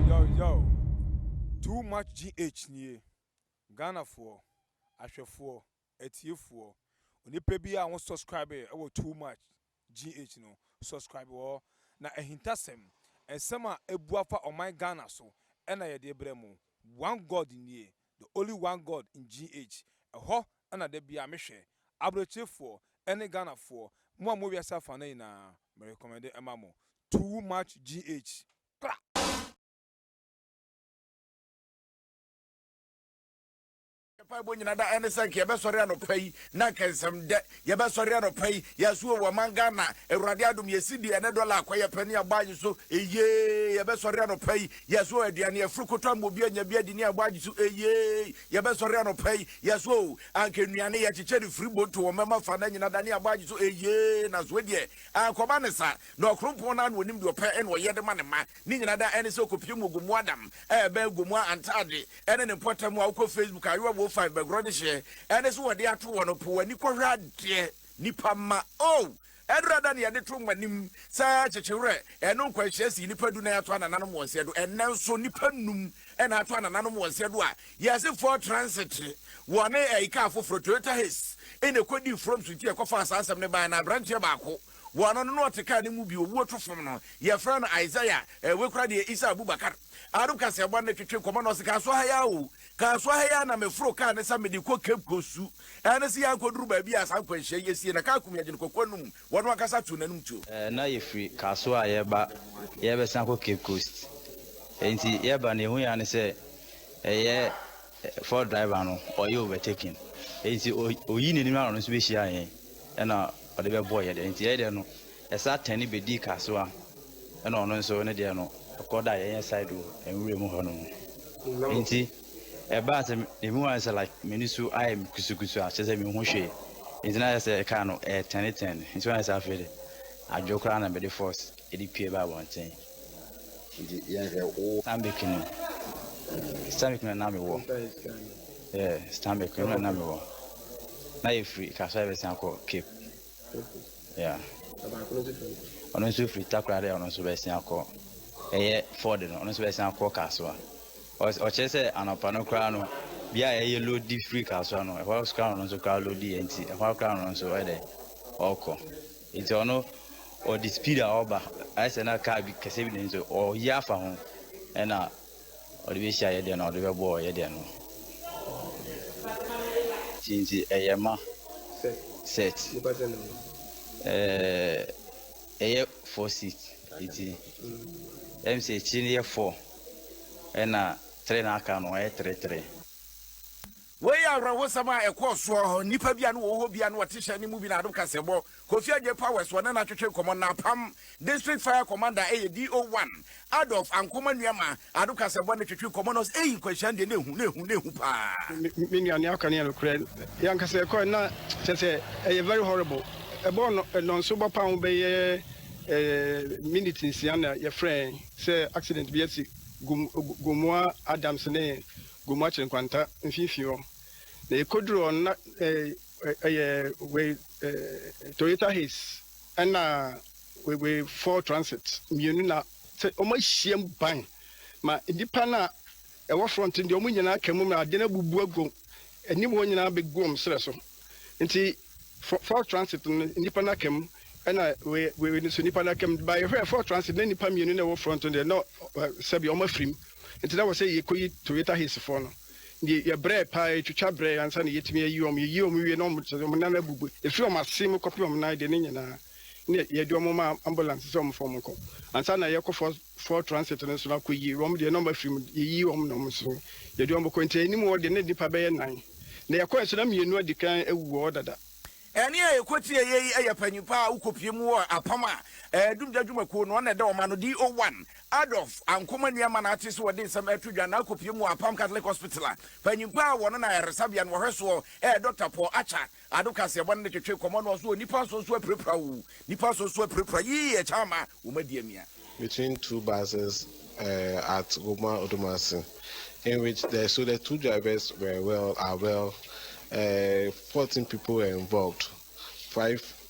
Yawyaw! Too much GH nie. Ghanafoɔ, ahwɛfoɔ, atiefoɔ, onipa biara a wo subscribe wɔ too much GH no, subscribe wɔ hɔ. Na ahintasɛm, nsɛm a ɛbu afa ɔman Ghana so ɛna yɛde brɛ mo. One God nie, The Only One God ngh, ɛhɔ na da biaa me hwɛ, Abrokyefoɔ ɛne Ghanafoɔ, mo a mo wɔ wiase afanan nyinaa, me recommende ɛma mo, too much gh. Kra! Mpaebɔ nyina da ɛne sɛ nka yɛbɛsɔre anɔpa yi na nka nsɛm dɛ Yɛbɛsɔre anɔpa yi yɛ so o wɔ man Ghana awurade adom yɛ CD ɛne dollar akɔ yɛ pɛ ne abɔ agye so eyee yɛbɛsɔre anɔpa yi yɛ so o aduane afuru kotɔ ama obi anya bi adi ne abɔ agye so eyee yɛbɛsɔre anɔpa yi yɛ so o anka nnuane yɛ kyekyɛ ne firi bonto wɔ mɛma fa na nyina da ne abɔ agye so eyee na so deɛ ankɔba ne sa na ɔkrompɔn no ano onim deɛ ɔpɛ ɛna ɔyɛ de ma ne ma Ne nyina da ɛne sɛ ɔkɔpie mu Ogomoa dam ɛɛbɛ Agomoa antaade ɛne ne mpɔtam a wokɔ Facebook a Yowa wo five bɛgorɔ de hyeɛ ɛne sɛ wɔde ato hɔ no po w'ani kɔhwɛ adeɛ nipa mma oh ɛdura da ne yɛde to moanim sɛ kyekyewerɛ ɛno nkwanhyia sii nipa du na yɛato anananom wɔ nseɛ do ɛnnɛ nso nipa num ɛna ato anananom wɔ nseɛ do a yɛse Ford Transit wɔne ɛyi kaa foforɔ Toyota Hiss ɛna ɛkɔdii froms nti ɛkɔfaa saa asɛm no baɛ na aberanteɛ baako Wɔ ano no na ɔte kaa no mu bi owuo to fam no yɛfrɛ no Isaiah eh wei koraa deɛ Isa Abubakar Arab kaseɛbɔ no twetwe nkɔmmɔ na ɔse kaaso ha yi ara o kaaso ha yi ara na meforo kaa no sɛ mede kɔ Cape Coast su ɛne se yɛakɔduru baabi a saa nkwanhyia yi asie na kaa kum yɛn gyene kɔkoa no mu wɔno ankasa too n'anom tuo. Eh na yɛfiri kaaso a yɛreba yɛrebɛsan akɔ Cape Coast enti yɛreba no yɛhuiɛ ara ne sɛ ɛyɛ Ford driver no ɔyɛ overtaking nti ɔyii n'anim ano no nso bɛhyiaa yɛn ɛna ɔde bɛbɔɔ yɛ deɛ nti yɛyɛ deɛ no ɛsa tɛne bɛdii ka so a ɛna ɔno nso ne deɛ no ɛkɔ da yɛnyɛ side o nwura mu hɔ no mu nti ɛbaa sɛ ɛmu ayɛ sɛ like m'ani so ayɛ me kusukusu a kyerɛ sɛ mehu hwee nti na ayɛ sɛ ɛkaa no ɛtɛne tɛne nti wɔn ayɛ sɛ afei de adwo koraa na mede force ɛde pie baa abɔnten nti yɛnhwɛ wo. stanbic no stanbic no na mewɔ yeah stanbic no na mewɔ na yɛfiri kasra bɛsan kɔ cape yeah ɔno nso firi takora dɛ ɔno nso bɛsan akɔ ɛyɛ ford no ɔno nso bɛsan akɔ kasoa ɔkyerɛ sɛ anɔpa no koraa no bia a ɛyɛ lodi firi kasoa no ɛhɔ koraa no nso koraa lodi yɛ nti ɛhɔ koraa no nso ɛdɛ ɔkɔ Nti ɔno ɔde speed a ɔba ayɛ sɛ na car bi kɛseɛ bi na nti ɔyi afa ho ɛna ɔde bɛhyia yɛ deɛ na ɔde bɛbɔ yɛ deɛ no nti nti ɛyɛ ma set ɛyɛ four seat nti ɛm sɛ akyiri no yɛ four ɛna three na aka no ɛyɛ three three. Wei yɛ awerɛhosɛm a ɛkɔɔ soɔ hɔ. Nnipa bi a na wɔwɔ hɔ bi a na wɔte hyɛn no mu bi na Adom Kaseɛbɔ, Kofi Adjei Powers, wɔne no atwetwe nkɔmmɔ. Na Apam District Fire Commander yɛ DO-one, Adolf Ankomah nua ma Adom Kaseɛbɔ ne twetwe nkɔmmɔ na ɔse eii nkwanhyia no deɛ na ehu, na ehu, na ehu paa. Me nua nea ɔka no yɛ nokorɛ. Yɛn ankasa yɛkɔɛ no na kyerɛ sɛ ɛyɛ very horrible. Ɛbɔɔ nnɔnso bɔ paa ho bɛyɛ minute nsia na yɛfrɛɛ yɛn sɛ accident bi asi. Gomoah Adams ne gu Moakye nkwanta mfinfini hɔ, na ekoduru hɔ no na ɛyɛ wei Toyota Hiace ɛna wei Ford Transit mmienu na sɛ wɔn ahyiam ban ma nnipa no a ɛwɔ front no deɛ wɔn nyinaa ka mu na ade no abubu agu anim hɔ nyinaa bɛgu wɔn serɛ so nti. Fo Ford Transit no nnipa no aka mu ɛna wei wei no nso nnipa no aka mu ba yɛhwɛ Ford Transit na nnipa mmienu na ɛwɔ front no deɛ na sɛbi wɔn afiri mu nti na wɔ sɛ yɛkɔyi Toyota Hiace foɔ no deɛ yɛbrɛ paa yɛtwitwa brɛ ansa na yɛtumi ayi wɔn yɛyi wɔn wie na wɔn wɔn nan abubu ɛfiri wɔn ase mu kɔpem wɔn nan deɛ ne nyinaa ne yɛde wɔn ma ambulance sɛ wɔn fɔ wɔn kɔ ansa na yɛkɔ Ford foɔ transit no nso no akɔ yie wɔn deɛ na wɔn afiri mu yɛyi wɔn na wɔn nso yɛde wɔn kɔ nti anim hɔ deɛ na nnipa bɛyɛ nan na yɛkɔɛ nso na mmienu adi kan awu wɔ hɔ dada. Ɛne a yɛkɔtieeɛ yi yɛ panin pa a wokɔpue mu wɔ apam a Dumgya dwumakuo no na ɛda wɔn ano, DO1, Adolf Ankomah Nuamah na ate sɛ wɔde nsɛm reto dwa na akɔpue mu wɔ apam Catholic Hospital a panin pa a wɔno na ayaresabea no wɔhwɛ soɔ, Dɔkta Paul Acha Adom kaseɛbɔ no de twetwe nkɔmmɔ no ɔso Onipa nso nso apirapira oo, Nipa nso nso apirapira yii ɛkyɛ ama wo ma di amia. between two buses uh at Goma Odumase in which the so the two drivers were well are well uh fourteen people were involved five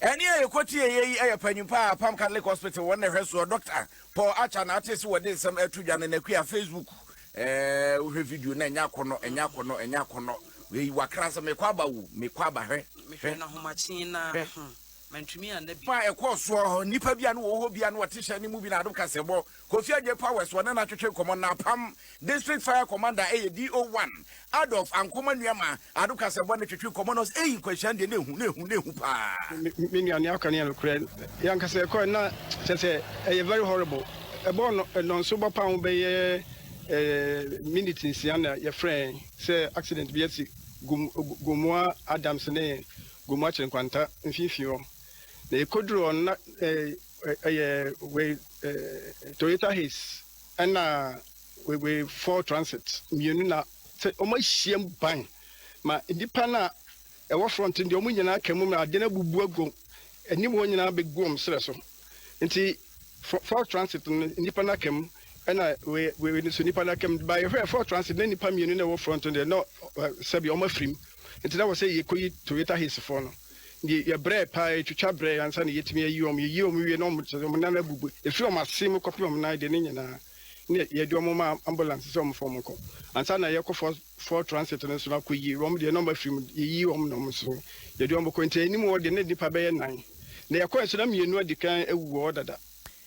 Ɛne a yɛkɔtieeɛ yi yɛ panyin pa a Apam Catholic Hospital wɔn na ɛhwɛ soɔ, Dɔkta Paul Acha na ate se wɔde nsɛm reto dwa no n'akua Facebook. Ɛɛɛ wohwɛ video no a ɛnyɛ akɔnnɔ, ɛnyɛ akɔnnɔ, ɛnyɛ akɔnnɔ. Wei wakra nsɛm, mekɔ aba o, mekɔ aba, hwɛ, hwɛ, hwɛ. Fa ɛkɔɔ soɔ hɔ, nnipa bi a na wɔwɔ hɔ bi a na wɔte hyɛn no mu bi na adom kaseɛbɔ Kofi Adjei Powers wɔ ne na twetwe nkɔmmɔ na apam District Fire Commander ɛyɛ DO one Adolf Ankomah Nuamah Ado Kasɛbɔ ne twetwe nkɔmmɔ na ɔse eii nkwanhyia no deɛ na ehu na ehu na ehu paa. Me nua nea ɔka no yɛ nokorɛ. Yɛn ankasa yɛkɔɛ na kyerɛ sɛ ɛyɛ very horrible. Ɛbɔɔ nnɔnso bɔ paa ho bɛyɛ minute nsia na yɛfrɛɛ yɛn sɛ accident bi asi Gomoa Adams ne Gomoa Kyere Nkwanta mfimfini hɔ. Na yɛkɔduruu hɔ no na Ɛyɛ wei eh, Toyota Hiace ɛna wei wei Ford Transit mmienu na sɛ wɔn ahyiam ban ma nnipa no a ɛwɔ front deɛ wɔn nyinaa ka mu ma adeɛ no abubu agu anim wɔn nyinaa bɛgu wɔn serɛ so nti Ford Transit no nnipa no aka mu ɛna wei wei no so nnipa no aka mu ba yɛhwɛ Ford Transit na nnipa mmienu na ɛwɔ front deɛ na sɛbi wɔn afirim nti na wɔ sɛ yɛkɔyi Toyota Hiace foɔ no. Deɛ yɛbrɛɛ paa, yɛtwitwa brɛɛ ansa na yɛatumi ayi wɔn. Yɛyii wɔn wieeɛ no, wɔn sɛ wɔn nan abubu. Ɛfiri wɔn ase mu kɔpem wɔn nan deɛ no nyinaa, na yɛde wɔn ma ambulance sɛ wɔmfa wɔn nkɔ. Ansa na yɛrekɔ Fort Fort Transit no so no akɔyi wɔn deɛ, na wɔn afiri mu. Yɛyii wɔn na wɔn nso, yɛde wɔn kɔe. Nti anim hɔ deɛ, na nnipa bɛyɛ nnan. Deɛ yɛkɔeɛ nso, na mmienu adi kan awu wɔ hɔ dada.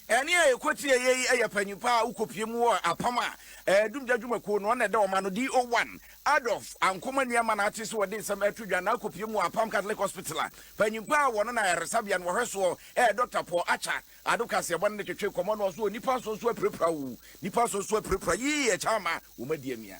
Ɛnne a ɛkɔtiɛ yei yɛ panyin pa a wokɔpie mu wɔ apam a Dumgya dwumakuo no na ɛda wɔn ano, DO1, Adolf Ankomah Nuamah na ate sɛ wɔde nsɛm reto dwa na akɔpie mu wɔ Apam Catholic Hospital a panyin pa a wɔno na ayaresabea no wɔhwɛ soɔ yɛ Dɔkta Paul Acha Addo Kaseɛbɔ no de twetwee kɔmmɔ no ɔse onipa nso nso apirapira o, nipa nso nso apirapira, yii ɛkyɛ ama wɔn adiamia.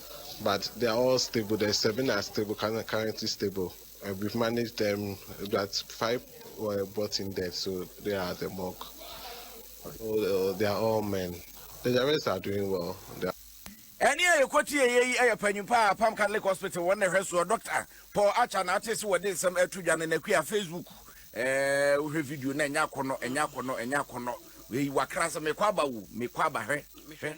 but they are all stable the seven are stable currently stable uh, we've managed them but five were brought in dead so they are the mock oh, they are all men the rest are doing well they are ɛne a yɛkɔtie ɛyɛ yi ɛyɛ panyin paa apam catholic hospital wɔn na ɛhwɛ soɔ dɔkta paul acha na ate se wɔde nsɛm ɛto dwa no na akua facebook ɛɛ wohwɛ video na ɛnyɛ akɔnɔ ɛnyɛ akɔnɔ ɛnyɛ akɔnɔ wei wakra sɛ mekɔ aba wo mekɔ aba hwɛ hwɛ